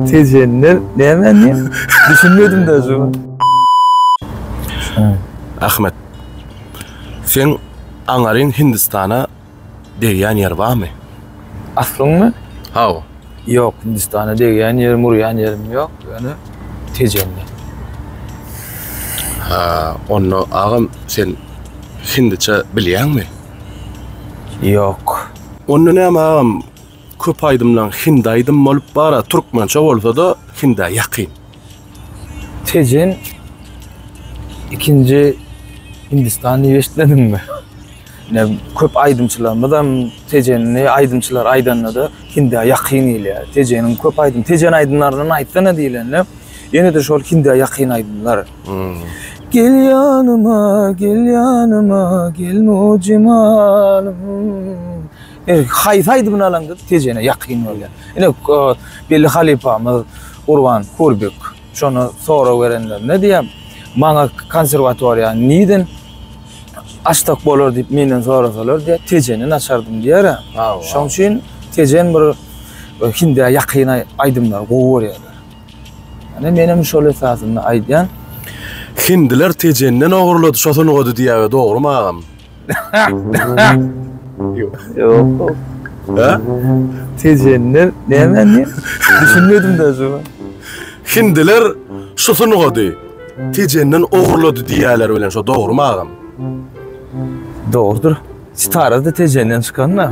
Tejenler näme indi? Düşünmedim daşy. Ahmet. Sen aňaryň Hindistana degýän ýer barmy? Aslyňmy? Hawa. Ýok, Hindistana degýän ýerim, urýan ýerim ýok, ýöne Tejenler. Ha, onda agam sen hindiçe bilýäňmi? Ýok. Onda näme agam, Köp aýdymlaň hindi aýdym bolup bara türkmençe bolsada hindä ýakyn. Tejen ikinji Hindistan diýip eşitmediňmi? Ine köp aýdymçylarymyzam tejenli aýdymçylar aýdandada hindä ýakyn gelýär. Tejeniň köp aýdym tejen aýdymlaryndan aýtsana diýlende ýene-de şol hindä ýakyn aýdymlar. Gel ýanyma, gel ýanyma, gel mujimanym. E, haýsy aýdymyny alaňdyz tejene ýakyn bolýar. Ine e, belli halypamyz Gurban Kurbek şonu sorag berenlerinde diýýär. Maňa konserwatoriýa niden açsak bolar diýip menden sorasalar diýýär, tejeni açardym diýýär. Şoň üçin tejen bir e, hindä ýakyn aýdymlar gowy görýärler. Ine men hem şol esasynda aýdýan. Hindiler tejenden ogurlady şo sungady diýýär dogrymy agam. Ýok. Ha? Tejenler näme ne? Düşünmedim de şu. Hindiler şu sungady tejenden ogurlady diýýärler bilen şo dogrumy agam? Dogrudyr. Sitara da tejenden çykan da.